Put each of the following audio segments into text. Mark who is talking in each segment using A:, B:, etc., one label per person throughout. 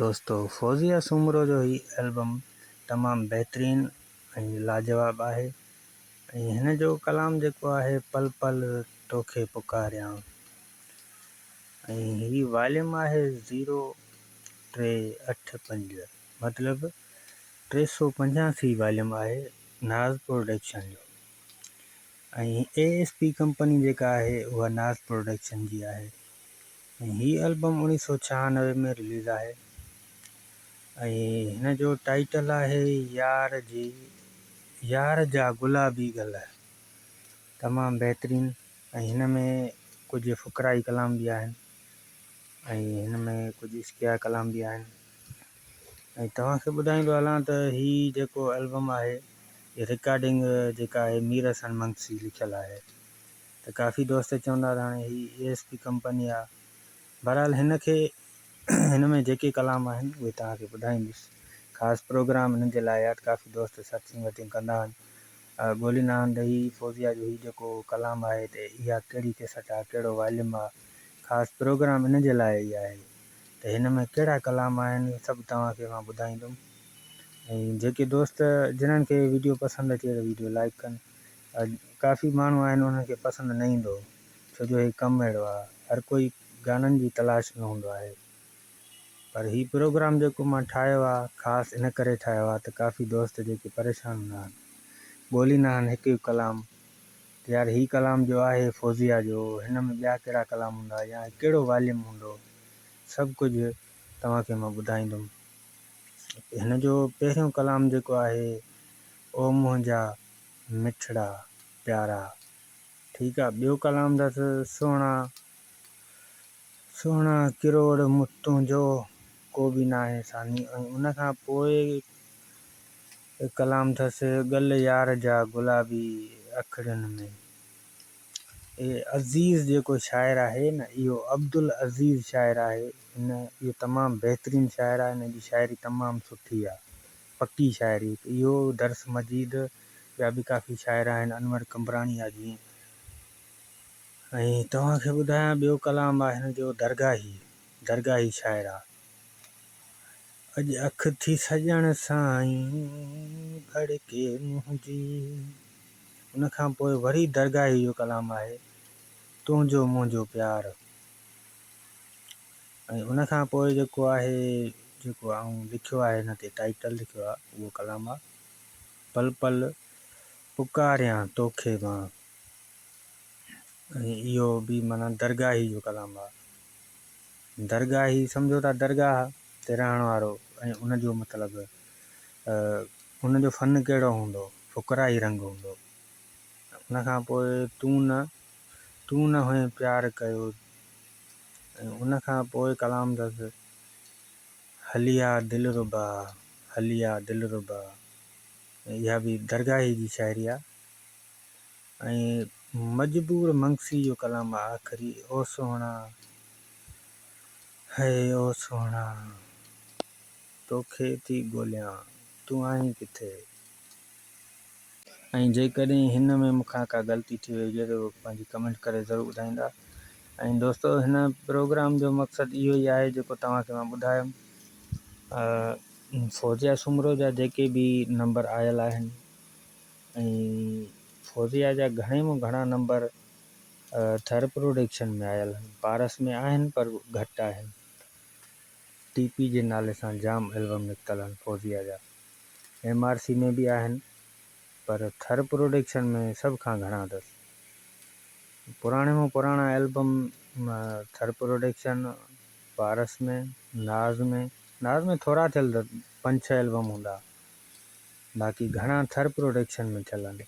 A: دوستو فوزيه سومرو جو هي البم تمام بهترين ۽ لاجواب آهي ۽ هن جو ڪلام جيڪو آهي پل پل توکي پڪاريان ۽ هي واليوم آهي زيرو ٽي اٺ پنج مطلب ٽي سو پنجاسي واليوم آهي ناز پروڊڪشن جو ۽ اي ايس پي ڪمپني جيڪا آهي اها ناز پروڊڪشن جي آهي هي البم اوڻيهه سؤ ڇهانوي ۾ رليز آهي ۽ هن جو ٽائيٽل آهي يار جي يار جا گلابي گل تمام بهترين ۽ هن ۾ ڪجهه فقرائي ڪلام به آهن ۽ هن ۾ ڪجهه عشقيه ڪلام به آهن ۽ توهان کي ٻڌائيندو هلان ته هي جيڪو البم آهي رڪارڊنگ جيڪا آهي مير حسن منگسي لکيل آهي ته ڪافي دوست چوندا ته هاڻي هي اي ايس پي ڪمپني آ بهرحال هن کي هن ۾ جيڪي ڪلام آهن اهي توهان کي ٻڌائيندس خاص پروگرام هنن جي لاء آ ته ڪافي دوست سٽ سنگتيون ڪندا آهن ڳوليندا آهن ته هي فوزيا جو هي جيڪو ڪلام آهي ته اها ڪهڙي ڪيسٽ آ ڪهڙو واليوم آ خاص پروگرام هنن جي لاء ئي آهي ته هن ۾ ڪهڙا ڪلام آهن اهي سڀ توهان کي مان ٻڌائيندم ۽ جيڪي دوست جنن کي ويڊيو پسند اچي ته ويڊيو لائڪ ڪن اڄ ڪافي ماڻهو آهن انهن کي پسند نه ايندو ڇو جو هي ڪم اهڙو آهي هر ڪوئي گانن جي تلاش ۾ هوندو آهي پر هي پروگرام جيڪو مان ٺاهيو آهي خاص ان ڪري ٺاهيو آهي ته ڪافي دوست جيڪي پريشان هوندا آهن ڳوليندا آهن هڪ هڪ ڪلام ته يار هي ڪلام جو آهي فوزيا جو هن ۾ ٻيا ڪهڙا ڪلام هوندا يا ڪهڙو واليوم هوندو سڀ ڪجهه توهان کي مان ٻڌائيندم هن جو پهريون ڪلام جيڪو آهي او منهنجا مٺڙا پيارا ٺيڪ آ ٻيو ڪلام اٿس سهڻا سهڻا ڪروڙ مت تنهنجو ڪو به ناهي ثاني ۽ ان کان پوء ڪلام اٿس ڳل يار جا گلابي اکڙين ۾ اي عزيز جيڪو شاعر آهي نه اهو عبدالعزيز شاعر آهي هن اهو تمام بهترين شاعر آهي هن جي شاعري تمام سٺي آهي پڪي شاعري ته اهو درس مجيد ٻيا به ڪافي شاعر آهن انور قمبراڻي آ جيئن ۽ توهان کي ٻڌايان ٻيو ڪلام آ هن جو درگاهي درگاهي شاعر آ اڄ اک ٿي سڄڻ سائين ڀڙڪي منهنجي ان کان پوء وري درگاهي جو ڪلام آهي تنهنجو منهنجو پيار ۽ ان کان پوء جيڪو آهي جيڪو آئون لکيو آهي هن تي ٽائيٽل لکيو آهي اهو ڪلام آهي پل پل پڪاريان توکي مان ۽ اهو به مانا درگاهي جو ڪلام آهي درگاهي سمجھو ٿا درگاهه تي رهڻ وارو ۽ ان جو مطلب ان جو فن ڪهڙو هوندو فقراهي رنگ هوندو ان کان پوء تون نه تون نه هئين پيار ڪيو ۽ ان کان پوء ڪلام اٿس هلي آ دلربا هلي آ دلربا ۽ اها به درگاهي جي شاعري آ ۽ مجبور منگسي جو ڪلام آ آخري او سهڻا هي او سهڻا توکي ٿي ڳوليان تون آهين ڪٿي ۽ جيڪڏهن هن ۾ مونکان ڪا غلطي ٿي وئي هجي ته اهو پنهنجي ڪمينٽ ڪري ضرور ٻڌائيندا ۽ دوستو هن پروگرام جو مقصد اهو ئي آهي جيڪو توهان کي مان ٻڌايم فوزيا سومرو جا جيڪي به نمبر آيل آهن فوزيا جا گهڻي مون گهڻا نمبر ٿر پروڊڪشن ۾ آيل آهن پارس ۾ آهن پر گهٽ آهن ٽي پي جي نالي سان جام البم نڪتل آهن فوزيا جا ايم آر سي ۾ به آهن پر ٿر پروڊڪشن ۾ سڀ کان گهڻا اٿس پراڻي مان پراڻا البم ٿر پروڊڪشن پارس ۾ ناز ۾ ناز ۾ ٿورا ٿيل اٿس پنج ڇهه البم هوندا باقي گهڻا ٿر پروڊڪشن ۾ ٿيل آهن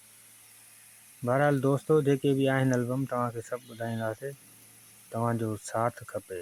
A: بهرحال دوستو جيڪي به آهن البم توهان کي سڀ ٻڌائينداسي توهان جو ساٿ کپي